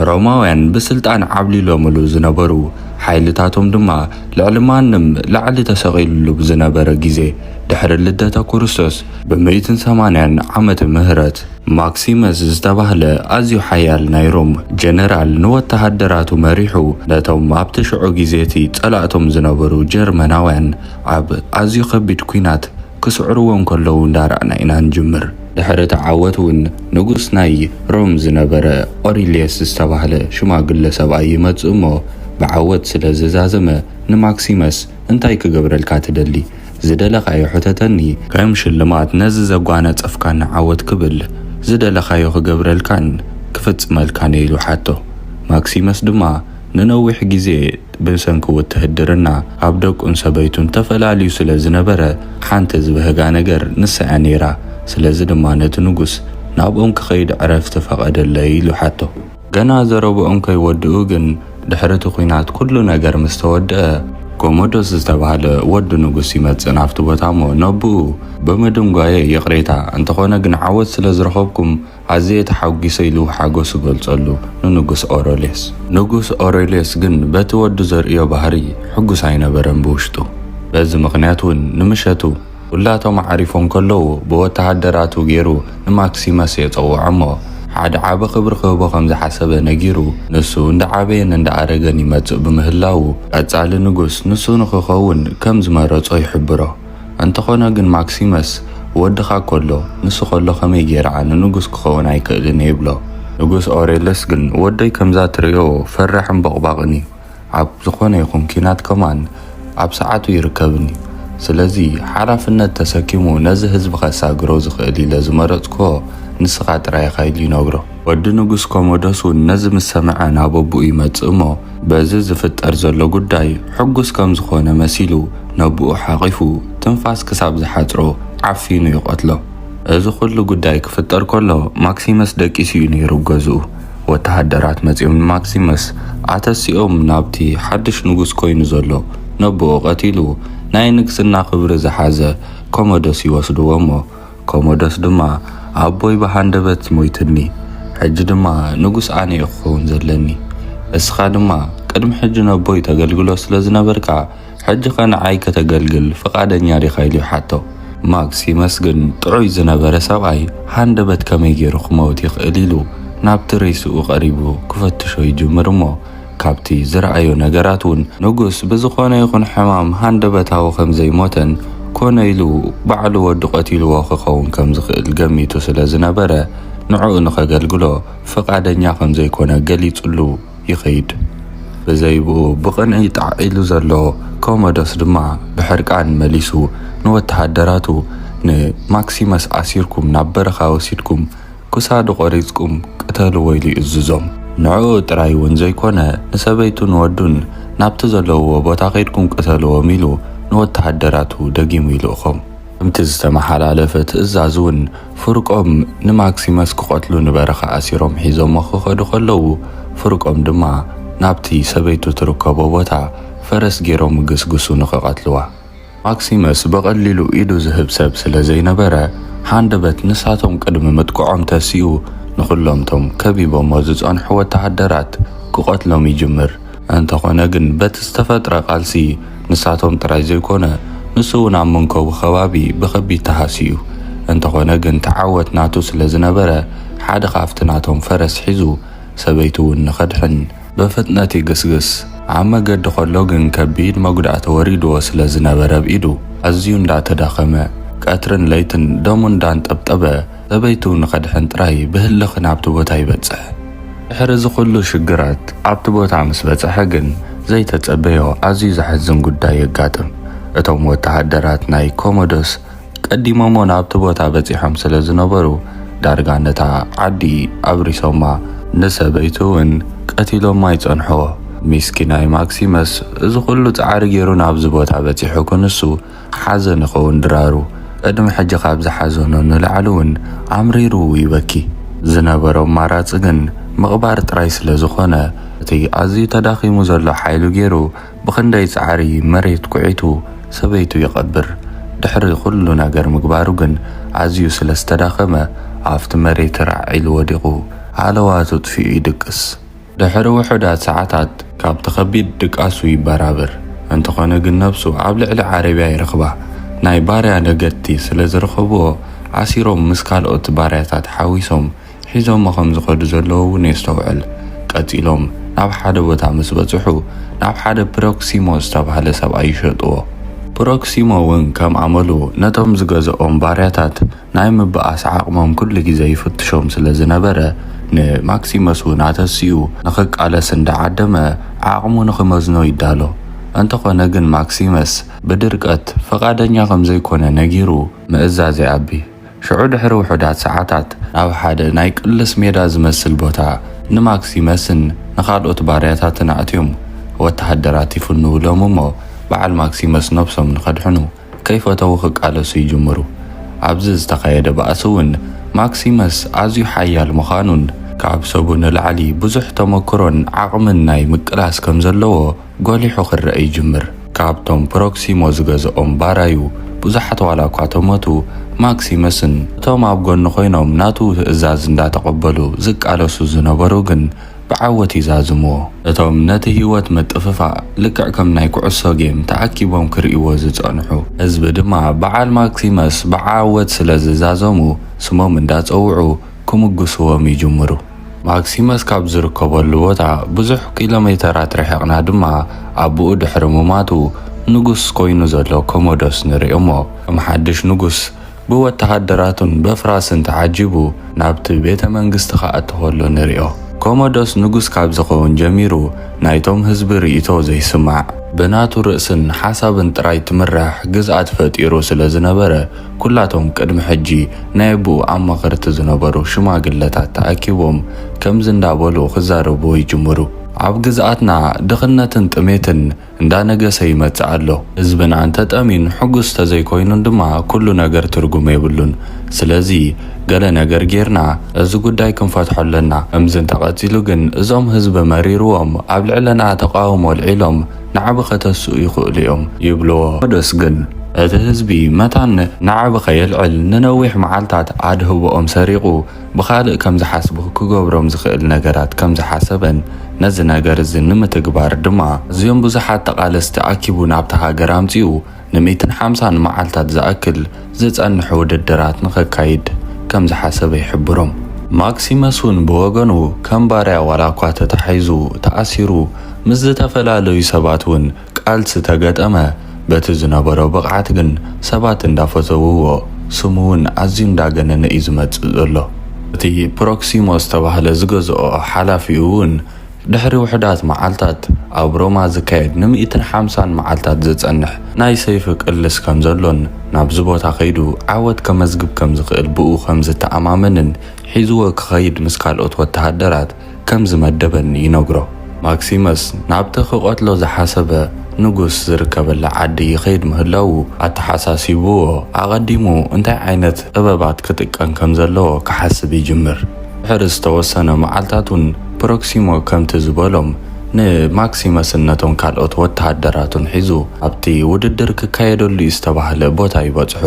ሮማውያን ብስልጣን ዓብሊሎምሉ ዝነበሩ፣ ሓይልታቶም ድማ ልዕሊ ማንም ላዕሊ ተሰቒሉሉ ብዝነበረ ግዜ ድሕሪ ልደተ ኩርስቶስ ብምእትን ሰማንያን ዓመተ ምህረት፣ ማክሲመስ ዝተባህለ ኣዝዩ ሓያል ናይ ሮም ጀነራል ንወተሃደራቱ መሪሑ ነቶም ኣብቲ ሽዑ ግዜ'ቲ ጸላእቶም ዝነበሩ ጀርመናውያን ኣብ ኣዝዩ ከቢድ ኲናት ክስዕርዎ እንከለዉ እንዳረኣና ኢና ንጅምር። ድሕሪ እቲ ዓወት እውን ንጉስ ናይ ሮም ዝነበረ ኦሪልየስ ዝተባህለ ሽማግለ ሰብኣይ ይመጽእ እሞ ብዓወት ስለ ዝዛዘመ ንማክሲመስ እንታይ ክገብረልካ ትደሊ? ዝደለኻዮ ሕተተኒ። ከም ሽልማት ነዚ ዘጓነጸፍካኒ ዓወት ክብል ዝደለኻዮ ክገብረልካን ክፍጽመልካን እየ ኢሉ ሓቶ። ማክሲመስ ድማ። ንነዊሕ ግዜ ብሰንኪ ውትህድርና ካብ ደቁን ሰበይቱን ተፈላልዩ ስለ ዝነበረ፣ ሓንቲ ዝብህጋ ነገር ንሳ'ያ ነይራ። ስለዚ ድማ ነቲ ንጉስ፣ ናብኦም ክኸይድ ዕረፍቲ ፈቐደለይ ኢሉ ሓቶ። ገና ዘረብኦም ከይወድኡ ግን፣ ድሕሪ'ቲ ኵናት ኵሉ ነገር ምስ ተወድኣ፣ ኮሞዶስ ዝተባህለ ወዲ ንጉስ ይመጽእ ናብቲ ቦታ'ሞ፣ ነብኡ ብምድንጓየይ ይቕሬታ፣ እንተዀነ ግን ዓወት ስለ ዝረኸብኩም፣ ኣዝየ ተሓጒሰ ኢሉ ሓጎሱ ገልጸሉ ንንጉስ ኦረልዮስ። ንጉስ ኦረልዮስ ግን በቲ ወዱ ዘርእዮ ባህሪ ሕጉስ ኣይነበረን ብውሽጡ። በዚ ምኽንያት ውን ንምሸቱ ኩላቶም ኣዕሪፎም ከለዉ ብወተሃደራቱ ጌሩ ንማክሲመስ የጸውዖ እሞ ሓደ ዓቢ ክብሪ ክህቦ ከም ዝሓሰበ ነጊሩ ንሱ እንዳዓበየን እንዳኣረገን ይመጽእ ብምህላዉ ቀጻሊ ንጉስ ንሱ ንኽኸውን ከም ዝመረጾ ይሕብሮ። እንተኾነ ግን ማክሲመስ ወድኻ ከሎ ንሱ ከሎ ከመይ ጌረ ኣነ ንጉስ ክኸውን ኣይክእልን ይብሎ። ንጉስ ኦሬለስ ግን ወደይ ከምዛ ትርእዮ ፈራሕን ቦቕባቕን እዩ፣ ኣብ ዝኾነ ይኹን ኲናት ከማን ኣብ ሰዓቱ ይርከብን እዩ፣ ስለዚ ሓላፍነት ተሰኪሙ ነዚ ህዝቢ ከሳግሮ ዝኽእል ኢለ ዝመረጽኩዎ ንስኻ ጥራይ ኢኻ ኢሉ ይነግሮ። ወዲ ንጉስ ኮሞዶስ እውን ነዚ ምስ ሰምዐ ናብ ኣቡኡ ይመጽእ እሞ በዚ ዝፍጠር ዘሎ ጉዳይ ሕጉስ ከም ዝኾነ መሲሉ ነቡኡ ሓቚፉ ትንፋስ ክሳብ ዝሓጽሮ ዓፊኑ ይቐትሎ። እዚ ኩሉ ጉዳይ ክፍጠር ከሎ ማክሲመስ ደቂሱ እዩ ነይሩ ኣብ ገዝኡ። ወተሃደራት መጺኦም ንማክሲመስ ኣተሲኦም ናብቲ ሓድሽ ንጉስ ኮይኑ ዘሎ ነቡኡ ቀቲሉ ናይ ንግስና ክብሪ ዝሓዘ ኮሞዶስ ይወስድዎ እሞ ኮሞዶስ ድማ ኣቦይ ብሃንደበት ሞይቱኒ፣ ሕጂ ድማ ንጉስ ኣነ እየ ክኸውን ዘለኒ። እስኻ ድማ ቅድሚ ሕጂ ነቦይ ተገልግሎ ስለ ዝነበርካ፣ ሕጂኸ ንዓይ ከተገልግል ፍቓደኛ ዲኻ? ኢሉ ይሓቶ። ማክስ ይመስግን ጥዑይ ዝነበረ ሰብኣይ ሃንደበት ከመይ ገይሩ ክመውት ይኽእል ኢሉ ናብቲ ሬስኡ ቀሪቡ ክፈትሾ ይጅምር እሞ፣ ካብቲ ዝረኣዮ ነገራት እውን ንጉስ ብዝኾነ ይኹን ሕማም ሃንደበታዊ ከም ዘይሞተን ኮነ ኢሉ ባዕሉ ወዱ ቀቲልዎ ክኸውን ከም ዝኽእል ገሚቱ ስለ ዝነበረ ንዕኡ ንኸገልግሎ ፍቓደኛ ከም ዘይኮነ ገሊጽሉ ይኸይድ። ብዘይብኡ ብቕንኢ ጣዕ ኢሉ ዘሎ ኮሞዶስ ድማ ብሕርቃን መሊሱ ንወተሃደራቱ ንማክሲመስ ኣሲርኩም ናብ በረኻ ወሲድኩም ክሳዱ ቆሪጽኩም ቅተልዎ ኢሉ ይእዝዞም። ንዕኡ ጥራይ እውን ዘይኮነ ንሰበይቱን ወዱን ናብቲ ዘለውዎ ቦታ ከይድኩም ቅተልዎም ኢሉ ንወተሃደራቱ ደጊሙ ይልእኾም። ከምቲ ዝተመሓላለፈ ትእዛዝ እውን ፍርቆም ንማክሲመስ ክቐትሉ ንበረኻ ኣሲሮም ሒዞሞ ክኸዱ ከለዉ ፍርቆም ድማ ናብቲ ሰበይቱ ትርከቦ ቦታ ፈረስ ገይሮም እግስግሱ ንክቐትልዋ። ማክሲመስ ብቐሊሉ ኢዱ ዝህብ ሰብ ስለ ዘይነበረ፣ ሃንደበት ንሳቶም ቅድሚ ምጥቅዖም ተሲኡ ንኹሎም'ቶም ከቢቦሞ ዝጸንሑ ወተሃደራት ክቐትሎም ይጅምር። እንተኾነ ግን በቲ ዝተፈጥረ ቃልሲ ንሳቶም ጥራይ ዘይኮነ ንሱ'ውን ኣብ መንከቡ ከባቢ ብኸቢድ ተሃስዩ። እንተኾነ ግን ተዓወት ናቱ ስለ ዝነበረ ሓደ ካብቲ ናቶም ፈረስ ሒዙ ሰበይቱ'ውን ንኸድሕን ብፍጥነት ይግስግስ። ኣብ መገዲ ከሎ ግን ከቢድ መጉዳእቲ ወሪድዎ ስለ ዝነበረ ብ ኢዱ ኣዝዩ እንዳ ተዳኸመ ቀትርን ለይትን ደሙ እንዳ ኣንጠብጠበ ሰበይቱ ንኸድሕን ጥራይ ብህልኽ ናብቲ ቦታ ይበጽሕ። ድሕሪ እዚ ኩሉ ሽግራት ኣብቲ ቦታ ምስ በጸሐ ግን ዘይተጸበዮ ኣዝዩ ዘሕዝን ጉዳይ የጋጥም። እቶም ወተሃደራት ናይ ኮሞዶስ ቀዲሞሞ ናብቲ ቦታ በጺሖም ስለ ዝነበሩ ዳርጋ ነታ ዓዲ ኣብሪሶማ ንሰበይቱ ውን ቀቲሎማ ይጸንሕዎ። ሚስኪናይ ማክሲመስ እዚ ኩሉ ጻዕሪ ጌሩ ናብዚ ቦታ በጺሑ ክንሱ ሓዘን ይኸውን ድራሩ ቅድሚ ሕጂ ካብ ዝሓዘኖ ንላዕሊ ውን ኣምሪሩ ይበኪ። ዝነበሮ ኣማራጺ ግን ምቕባር ጥራይ ስለ ዝኾነ እቲ ኣዝዩ ተዳኺሙ ዘሎ ሓይሉ ጌሩ ብኽንደይ ጻዕሪ መሬት ኩዒቱ ሰበይቱ ይቐብር። ድሕሪ ኩሉ ነገር ምግባሩ ግን ኣዝዩ ስለ ዝተዳኸመ ኣብቲ መሬት ራዕ ኢሉ ወዲቑ ሃለዋቱ ኣጥፊኡ ይድቅስ። ድሕሪ ውሑዳት ሰዓታት ካብቲ ከቢድ ድቃሱ ይበራበር። እንተኾነ ግን ነብሱ ኣብ ልዕሊ ዓረብያ ይረኽባ። ናይ ባርያ ነገድቲ ስለ ዝረኸብዎ ኣሲሮም ምስ ካልኦት ባርያታት ሓዊሶም ሒዞሞ ከም ዝኸዱ ዘለዉ እውን የስተውዕል። ቀጺሎም ናብ ሓደ ቦታ ምስ በጽሑ፣ ናብ ሓደ ፕሮክሲሞ ዝተባህለ ሰብኣይ ይሸጡዎ። ፕሮክሲሞ እውን ከም ኣመሉ ነቶም ዝገዝኦም ባርያታት ናይ ምብኣስ ዓቕሞም ኩሉ ግዜ ይፍትሾም ስለ ዝነበረ፣ ንማክሲመስ እውን ኣተሲኡ ንኽቃለስ እንዳ ዓደመ ዓቕሙ ንኽመዝኖ ይዳሎ። እንተኾነ ግን ማክሲመስ ብድርቀት ፍቓደኛ ከም ዘይኮነ ነጊሩ ምእዛዝ ይኣቢ። ሽዑ ድሕሪ ውሑዳት ሰዓታት፣ ናብ ሓደ ናይ ቅልስ ሜዳ ዝመስል ቦታ ንማክሲመስን ንኻልኦት ባርያታትን ኣእትዮም ወተሃደራት ይፍንዉሎም እሞ በዓል ማክሲመስ ነብሶም ንኸድሕኑ ከይፈተዉ ክቃለሱ ይጅምሩ። ኣብዚ ዝተኻየደ ባእሲ እውን ማክሲመስ ኣዝዩ ሓያል ምዃኑን፣ ካብ ሰቡ ንላዕሊ ብዙሕ ተመክሮን ዓቕምን ናይ ምቅላስ ከም ዘለዎ፣ ጎሊሑ ክረኣ ይጅምር። ካብቶም ፕሮክሲሞ ዝገዝኦም ባራዩ ብዙሓት ዋላኳ ተሞቱ፣ ማክሲመስን እቶም ኣብ ጎኑ ኮይኖም ናቱ ትእዛዝ እንዳተቐበሉ ዝቃለሱ ዝነበሩ ግን ብዓወት ይዛዝምዎ። እቶም ነቲ ህይወት ምጥፍፋእ ልክዕ ከም ናይ ኩዕሶ ጌም ተኣኪቦም ክርእይዎ ዝጸንሑ ህዝቢ ድማ በዓል ማክሲመስ ብዓወት ስለዝዛዘሙ ስሞም እንዳጸውዑ ክምጉስዎም ይጅምሩ። ማክሲመስ ካብ ዝርከበሉ ቦታ ብዙሕ ኪሎሜተራት ርሒቕና ድማ ኣቡኡ ድሕሪ ምሟቱ ንጉስ ኮይኑ ዘሎ ኮሞዶስ ንርኢ እሞ ከም ሓድሽ ንጉስ ብወተሃደራቱን በፍራስን ተዓጂቡ ናብቲ ቤተ መንግስቲ ክኣቱ ከሎ ንሪኦ። ኮሞዶስ ንጉስ ካብ ዝኸውን ጀሚሩ ናይቶም ህዝቢ ርኢቶ ዘይስማዕ ብናቱ ርእስን ሓሳብን ጥራይ ትምራሕ ግዝኣት ፈጢሩ ስለ ዝነበረ ኩላቶም ቅድሚ ሕጂ ናይ ኣቡኡ ኣማኸርቲ ዝነበሩ ሽማግለታት ተኣኪቦም ከምዚ እንዳ በሉ ክዛረብዎ ይጅምሩ። ኣብ ግዝኣትና ድኽነትን ጥሜትን እንዳ ነገሰ ይመጽእ ኣሎ። ህዝብና እንተ ጠምዩን ሕጉስ እንተ ዘይኮይኑን ድማ ኩሉ ነገር ትርጉም የብሉን። ስለዚ ገለ ነገር ጌርና እዚ ጉዳይ ክንፈትሖ ኣለና። ከምዚ እንተ ቀጺሉ ግን እዞም ህዝቢ መሪርዎም ኣብ ልዕለና ተቃውሞ ኣልዒሎም ንዓቢ ከተስኡ ይኽእሉ እዮም ይብልዎ። ሮዶስ ግን እቲ ህዝቢ መታን ንዓቢ ከየልዕል ንነዊሕ መዓልታት ኣድህቦኦም ሰሪቑ ብኻልእ ከም ዝሓስቡ ክገብሮም ዝኽእል ነገራት ከም ዝሓሰበን ነዚ ነገር እዚ ንምትግባር ድማ ኣዝዮም ብዙሓት ተቓለስቲ ኣኪቡ ናብታ ሃገር ኣምጺኡ ንሚእትን ሓምሳን መዓልታት ዝኣክል ዝጸንሕ ውድድራት ንኸካይድ ከም ዝሓሰበ ይሕብሩ። ማክሲመስ'ውን ብወገኑ ከም ባርያ ዋላኳ ተታሒዙ ተኣሲሩ ምስ ዝተፈላለዩ ሰባት'ውን ቃልሲ ተገጠመ በቲ ዝነበሮ ብቕዓት ግን ሰባት እንዳፈተውዎ ስሙ'ውን ኣዝዩ እንዳገነነ'ዩ ዝመጽእ ዘሎ። እቲ ፕሮክሲሞ ዝተባህለ ዝገዝኦ ሓላፊኡ'ውን ድሕሪ ውሑዳት መዓልታት ኣብ ሮማ ዝካየድ ንሚእትን ሓምሳን መዓልታት ዝጸንሕ ናይ ሰይፊ ቅልስ ከም ዘሎን ናብዚ ቦታ ከይዱ ዓወት ከመዝግብ ከም ዝኽእል ብኡ ከም ዝተኣማመንን ሒዝዎ ክኸይድ ምስ ካልኦት ወተሃደራት ከም ዝመደበን ይነግሮ። ማክሲመስ ናብቲ ክቐትሎ ዝሓሰበ ንጉስ ዝርከበላ ዓዲ ይኸይድ ምህላዉ ኣተሓሳሲብዎ ኣቐዲሙ እንታይ ዓይነት ጥበባት ክጥቀም ከም ዘለዎ ክሓስብ ይጅምር። ድሕሪ ዝተወሰነ መዓልታት እውን ፕሮክሲሞ ከምቲ ዝበሎም ንማክሲመስን ነቶም ካልኦት ወተሃደራቱን ሒዙ ኣብቲ ውድድር ክካየደሉ እዩ ዝተባህለ ቦታ ይበጽሑ።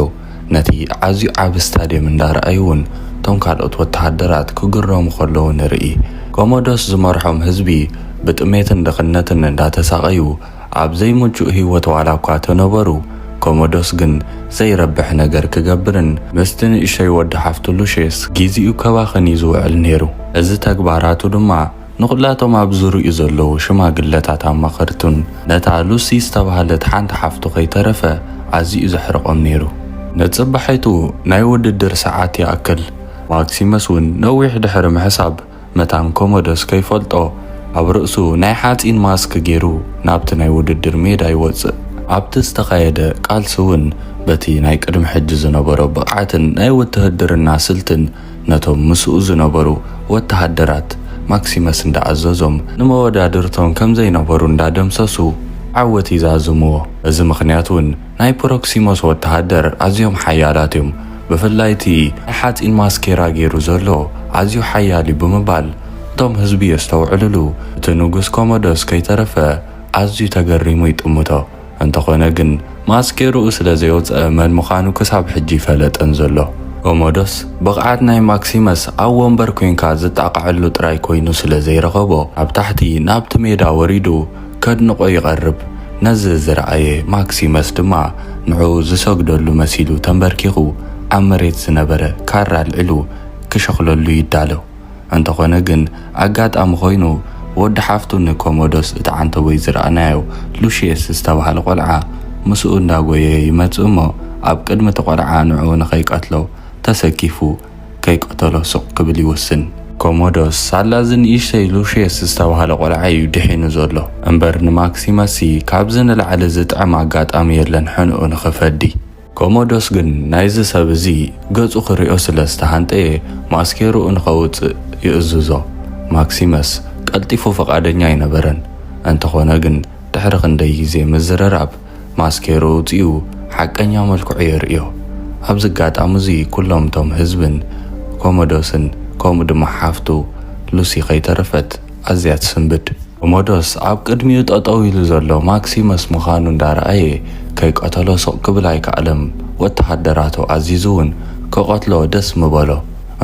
ነቲ ኣዝዩ ዓቢ ስታድየም እንዳረኣዩ እውን እቶም ካልኦት ወተሃደራት ክግረሙ ከለዉ ንርኢ። ኮሞዶስ ዝመርሖም ህዝቢ ብጥሜትን ድኽነትን እንዳተሳቐዩ፣ ኣብ ዘይምቹእ ህይወት ዋላ እኳ ተነበሩ፣ ኮሞዶስ ግን ዘይረብሕ ነገር ክገብርን ምስቲ ንእሸተይ ወዲ ሓፍቱ ሉሽየስ ግዜኡ ከባኽን እዩ ዝውዕል ነይሩ። እዚ ተግባራቱ ድማ ንዅላቶም ኣብ ዙርያኡ ዘለዉ ሽማግለታትን ኣማኸርቱን፣ ነታ ሉሲ ዝተባህለት ሓንቲ ሓፍቱ ከይተረፈ ኣዝዩ'ዩ ዘሕርቖም ነይሩ። ንጽባሒቱ ናይ ውድድር ሰዓት ይኣክል፣ ማክሲመስ እውን ነዊሕ ድሕሪ ምሕሳብ፣ መታን ኮሞዶስ ከይፈልጦ ኣብ ርእሱ ናይ ሓጺን ማስክ ጌሩ ናብቲ ናይ ውድድር ሜዳ ይወጽእ። ኣብቲ ዝተኻየደ ቃልሲ እውን በቲ ናይ ቅድሚ ሕጂ ዝነበሮ ብቕዓትን ናይ ውትህድርና ስልትን ነቶም ምስኡ ዝነበሩ ወተሃደራት ማክሲመስ እንዳኣዘዞም ንመወዳድርቶም ከምዘይነበሩ እንዳደምሰሱ ዓወት ይዛዝምዎ። በዚ ምኽንያት እውን ናይ ፕሮክሲሞስ ወተሃደር ኣዝዮም ሓያላት እዮም፣ ብፍላይ እቲ ናይ ሓጺን ማስኬራ ገይሩ ዘሎ ኣዝዩ ሓያል እዩ ብምባል እቶም ህዝቢ የስተውዕልሉ። እቲ ንጉስ ኮሞዶስ ከይተረፈ ኣዝዩ ተገሪሙ ይጥምቶ። እንተኾነ ግን ማስኬርኡ ስለ ዘየውጸኣ መን ምዃኑ ክሳብ ሕጂ ኣይፈለጠን ዘሎ። ኮሞዶስ ብቕዓት ናይ ማክሲመስ ኣብ ወንበር ኮንካ ዝጣቕዐሉ ጥራይ ኮይኑ ስለ ዘይረኸቦ ኣብ ታሕቲ ናብቲ ሜዳ ወሪዱ፣ ከድንቖ ይቐርብ። ነዚ ዝረኣየ ማክሲመስ ድማ ንዕኡ ዝሰግደሉ መሲሉ ተምበርኪኹ ኣብ መሬት ዝነበረ ካራ ኣልዒሉ ክሸኽለሉ ይዳሎ። እንተኾነ ግን ኣጋጣሚ ኮይኑ ወዲ ሓፍቱ ንኮሞዶስ እትዓንተቦይ ዝረኣናዮ ሉሽየስ ዝተባህለ ቆልዓ ምስኡ እንዳጎየየ ይመጽእ'ሞ ኣብ ቅድሚ እቲ ቆልዓ ንዕኡ ንኸይቀትሎ ተሰኪፉ ከይቀተሎ ስቕ ክብል ይውስን። ኮሞዶስ፣ ሳላ እዚ ንእሽተይ ሉሽየስ ዝተባህለ ቆልዓ እዩ ድሒኑ ዘሎ። እምበር ንማክሲመስሲ ካብዚ ንላዕሊ ዝጥዕም ኣጋጣሚ የለን ሕንኡ ንኽፈዲ። ኮሞዶስ ግን ናይዚ ሰብ እዚ ገጹ ክሪኦ ስለ ዝተሃንጠየ ማስኬርኡ ንኸውጽእ ይእዝዞ። ማክሲመስ ቀልጢፉ ፍቓደኛ ኣይነበረን። እንተኾነ ግን ድሕሪ ክንደይ ግዜ ምዝርራብ ማስኬሩ ኣውጺኡ ሓቀኛ መልክዑ የርእዮ። ኣብዚ ኣጋጣሚ እዚ ኩሎም እቶም ህዝብን ኮሞዶስን ከምኡ ድማ ሓፍቱ ሉሲ ከይተረፈት ኣዝያ ትስንብድ። ኮሞዶስ ኣብ ቅድሚኡ ጠጠው ኢሉ ዘሎ ማክሲመስ ምኻኑ እንዳረኣየ ከይቀተሎ ስቕ ክብል ኣይከኣለም። ወተሃደራቱ ኣዚዙ ውን ክቐትሎ ደስ ምበሎ።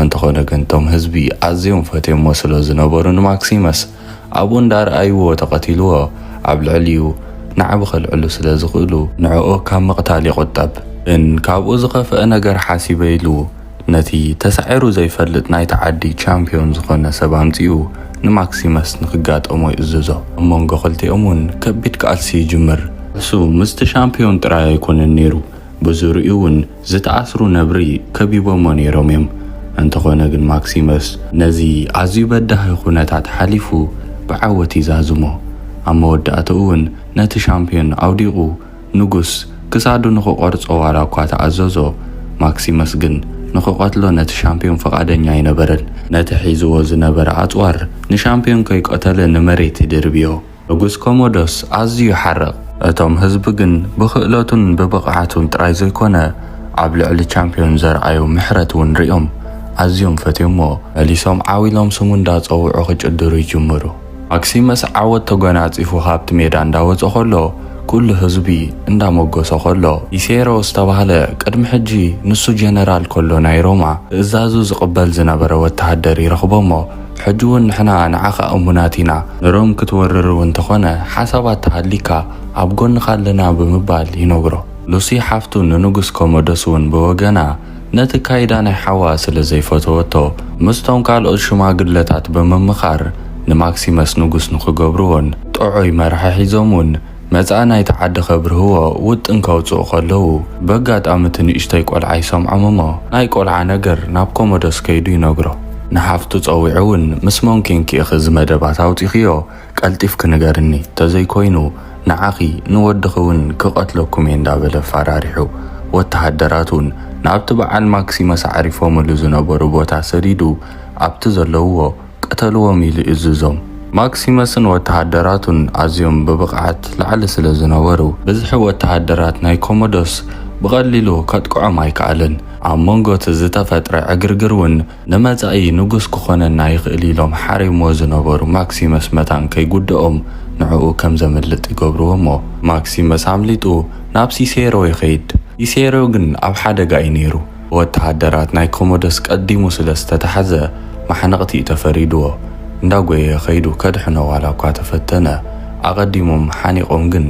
እንተኾነ ግን እቶም ህዝቢ ኣዝዮም ፈትዮሞ ስለዝነበሩ ንማክሲመስ፣ ኣብኡ እንዳርኣይዎ ተቐቲልዎ ኣብ ልዕሊኡ ናዕቢ ከልዕሉ ስለ ዝኽእሉ ንዕኡ ካብ ምቕታል ይቑጠብ። ን ካብኡ ዝኸፍኣ ነገር ሓሲበ ኢሉ ነቲ ተሳዒሩ ዘይፈልጥ ናይቲ ዓዲ ቻምፕዮን ዝኾነ ሰብ ኣምጺኡ ንማክሲመስ ንክጋጠሞ ይእዝዞ። ኣብ መንጎ ክልቲኦም ውን ከቢድ ቃልሲ ይጅምር። ንሱ ምስቲ ሻምፕዮን ጥራይ ኣይኮነን ኔሩ፣ ብዙርይኡ ውን ዝተኣስሩ ነብሪ ከቢቦሞ ነይሮም እዮም፣ እንተኾነ ግን ማክሲመስ ነዚ ኣዝዩ በዳሂ ኩነታት ሓሊፉ ብዓወት ይዛዝሞ። ኣብ መወዳእትኡ እውን ነቲ ሻምፕዮን ኣውዲቑ ንጉስ ክሳዱ ንኽቖርጾ ዋላ እኳ ተኣዘዞ፣ ማክሲመስ ግን ንኽቐትሎ ነቲ ሻምፕዮን ፍቓደኛ ኣይነበረን። ነቲ ሒዝዎ ዝነበረ ኣጽዋር ንሻምፕዮን ከይቀተለ ንመሬት ይድርብዮ። ንጉስ ኮሞዶስ ኣዝዩ ይሓርቕ፣ እቶም ህዝቢ ግን ብኽእለቱን ብብቕዓቱን ጥራይ ዘይኮነ ኣብ ልዕሊ ቻምፕዮን ዘርኣዮ ምሕረት እውን ርእዮም ኣዝዮም ፈትዮሞ። መሊሶም ዓው ኢሎም ስሙ እንዳጸውዑ ክጭድሩ ይጅምሩ። ማክሲመስ ዓወት ተጎናጺፉ ካብቲ ሜዳ እንዳወጸ ከሎ ኩሉ ህዝቢ እንዳሞጎሶ ከሎ፣ ቢሴሮ ዝተባህለ ቅድሚ ሕጂ ንሱ ጀነራል ከሎ ናይ ሮማ ትእዛዙ ዝቕበል ዝነበረ ወተሃደር ይረኽቦሞ፣ ሕጂ ውን ንሕና ንዓኻ እሙናት ኢና፣ ንሮም ክትወርር ውን ተኾነ ሓሳባት ተሃሊካ ኣብ ጎንኻ ኣለና ብምባል ይነግሮ። ሉሲ ሓፍቱ ንንጉስ ኮሞዶስ ውን ብወገና ነቲ ኣካይዳ ናይ ሓዋ ስለ ዘይፈተወቶ ምስቶም ካልኦት ሽማግለታት ብምምኻር ንማክሲመስ ንጉስ ንኽገብርዎን ጥዑይ መራሒ ሒዞም ውን መጻኢ ናይቲ ዓዲ ከብርህዎ ውጥን ከውጽኡ ከለዉ፣ በጋጣሚ እቲ ንእሽቶይ ቆልዓ ይሰምዖም እሞ፣ ናይ ቆልዓ ነገር ናብ ኮሞዶስ ከይዱ ይነግሮ። ንሓፍቱ ጸዊዑ እውን ምስ መን ኴንኪ ኢኺ እዚ መደባት ኣውጺኽዮ ቀልጢፍኪ ንገርኒ፣ ተዘይኮይኑ ንዓኺ ንወድኺ እውን ክቐትለኩም እየ እንዳበለ ኣፋራሪሑ፣ ወተሃደራት እውን ናብቲ በዓል ማክሲመስ ኣዕሪፎምሉ ዝነበሩ ቦታ ሰዲዱ ኣብቲ ዘለውዎ፣ ቅተልዎም ኢሉ እዝዞም። ማክሲመስን ወተሃደራቱን ኣዝዮም ብብቕዓት ላዕሊ ስለ ዝነበሩ፣ ብዝሒ ወተሃደራት ናይ ኮሞዶስ ብቐሊሉ ከጥቅዖም ኣይከኣለን። ኣብ መንጎ'ቲ ዝተፈጥረ ዕግርግር'ውን ንመጻኢ ንጉስ ክኾነና ይኽእል ኢሎም ሓሪምዎ ዝነበሩ ማክሲመስ መታን ከይጉድኦም ንዕኡ ከም ዘምልጥ ይገብርዎ'ሞ ማክሲመስ ኣምሊጡ ናብ ሲሴሮ ይኸይድ። ሲሴሮ ግን ኣብ ሓደጋ'ዩ ነይሩ። ብወተሃደራት ናይ ኮሞደስ ቀዲሙ ስለ ዝተታሕዘ መሓነቕቲ'ዩ ተፈሪድዎ። እንዳጎየየ ከይዱ ከድሕኖ ዋላ'ኳ ተፈተነ፣ ኣቐዲሞም ሓኒቖም ግን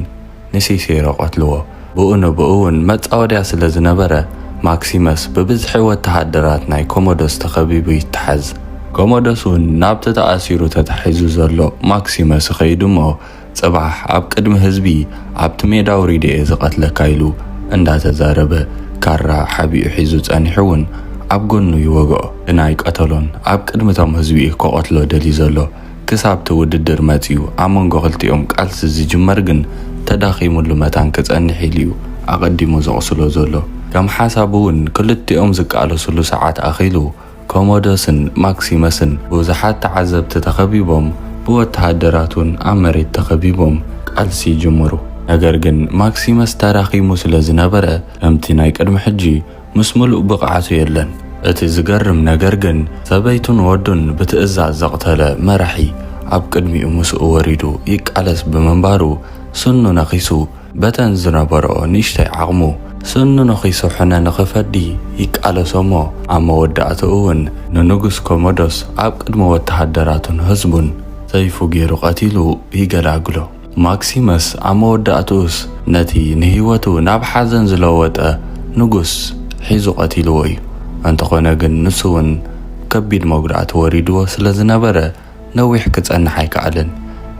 ንሲሴሮ ቀትልዎ። ብኡ ንብኡ'ውን መጻወድያ ስለ ዝነበረ ማክሲመስ ብብዝሒ ወተሃደራት ናይ ኮሞደስ ተኸቢቡ ይታሓዝ። ኮሞደስ'ውን ናብቲ ተኣሲሩ ተታሒዙ ዘሎ ማክሲመስ ይኸይድ'ሞ፣ ጽባሕ ኣብ ቅድሚ ህዝቢ ኣብቲ ሜዳ ኣውሪደ'የ ዝቐትለካ ኢሉ እንዳተዛረበ ካራ ሓቢኡ ሒዙ ጸኒሑ ውን ኣብ ጎኑ ይወግኦ። ግን ኣይቀተሎን ኣብ ቅድሚ እቶም ህዝቢ'ዩ ክቐትሎ ደልዩ ዘሎ። ክሳብ'ቲ ውድድር መጺኡ ኣብ መንጎ ክልቲኦም ቃልሲ ዝጅመር ግን ተዳኺሙሉ መታን ክጸንሕ ኢሉ'ዩ ኣቐዲሙ ዘቑስሎ ዘሎ። ከም ሓሳቡ ውን ክልቲኦም ዝቃለስሉ ሰዓት ኣኺሉ፣ ኮሞዶስን ማክሲመስን ብብዙሓት ተዓዘብቲ ተኸቢቦም ብወተሃደራቱን ኣብ መሬት ተኸቢቦም ቃልሲ ይጅምሩ። ነገር ግን ማክሲመስ ተዳኺሙ ስለ ዝነበረ ከምቲ ናይ ቅድሚ ሕጂ ምስ ምሉእ ብቕዓቱ የለን። እቲ ዝገርም ነገር ግን ሰበይቱን ወዱን ብትእዛዝ ዘቕተለ መራሒ ኣብ ቅድሚኡ ምስኡ ወሪዱ ይቃለስ ብምንባሩ ስኑ ነኺሱ በተን ዝነበረኦ ንእሽተይ ዓቕሙ፣ ስእኑ ንኺስሑነ ንኺፈዲ ይቃለሶ'ሞ፣ ኣብ መወዳእታኡ'ውን ንንጉስ ኮሞዶስ ኣብ ቅድሚ ወተሃደራቱን ህዝቡን ሰይፉ ገይሩ ቀቲሉ ይገላግሎ። ማክሲመስ ኣብ መወዳእታኡስ ነቲ ንህይወቱ ናብ ሓዘን ዝለወጠ ንጉስ ሒዙ ቀቲልዎ'ዩ። እንተኾነ ግን ንሱ'ውን ከቢድ መጉዳእቲ ወሪድዎ ስለ ዝነበረ ነዊሕ ክጸንሕ ኣይከኣለን።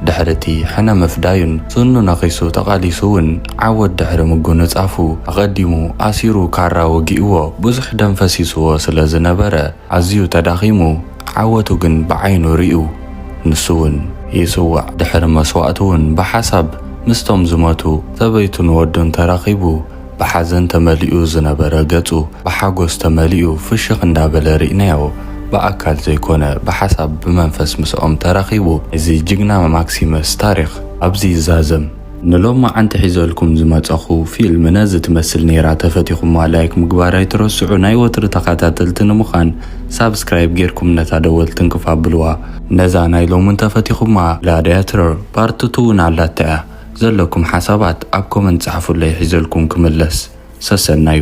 ድሕሪ'ቲ ሕነ ምፍዳዩን ስኑ ነኺሱ ተቓሊሱ'ውን ዓወት ድሕሪ ምጉንጻፉ፣ ኣቐዲሙ ኣሲሩ ካራ ወጊኡዎ ብዙሕ ደም ፈሲሱዎ ስለ ዝነበረ ኣዝዩ ተዳኺሙ ዓወቱ ግን ብዓይኑ ሪኡ ንሱ'ውን ይጽዋዕ ድሕሪ መስዋእቱ'ውን ብሓሳብ ምስቶም ዝመቱ ሰበይቱን ወዱን ተራኺቡ ብሓዘን ተመሊኡ ዝነበረ ገጹ ብሓጎስ ተመሊኡ ፍሽኽ እንዳበለ ሪእናዮ ብኣካል ዘይኮነ ብሓሳብ ብመንፈስ ምስኦም ተራኺቡ ናይዚ ጅግና ማክሲመስ ታሪኽ ኣብዚ ይዛዘም። ንሎማዓንቲ ሒዘልኩም ዝመጸኹ ፊልም ነዚ ትመስል ኔራ ተፈቲኹማ ላይክ ምግባር ኣይትረስዑ ናይ ወትሪ ተኻታተልቲ ንምኻን ሳብስክራይብ ጌርኩም ነታ ደወል ትንክፍ ኣብልዋ ነዛ ናይ ሎሚ እንተፈቲኹማ ግላድያተር ፓርት ቱ ውን ኣላታ እያ ዘለኩም ሓሳባት ኣብ ኮመንት ጸሓፉለይ ሒዘልኩም ክምለስ። ሰሰናዩ።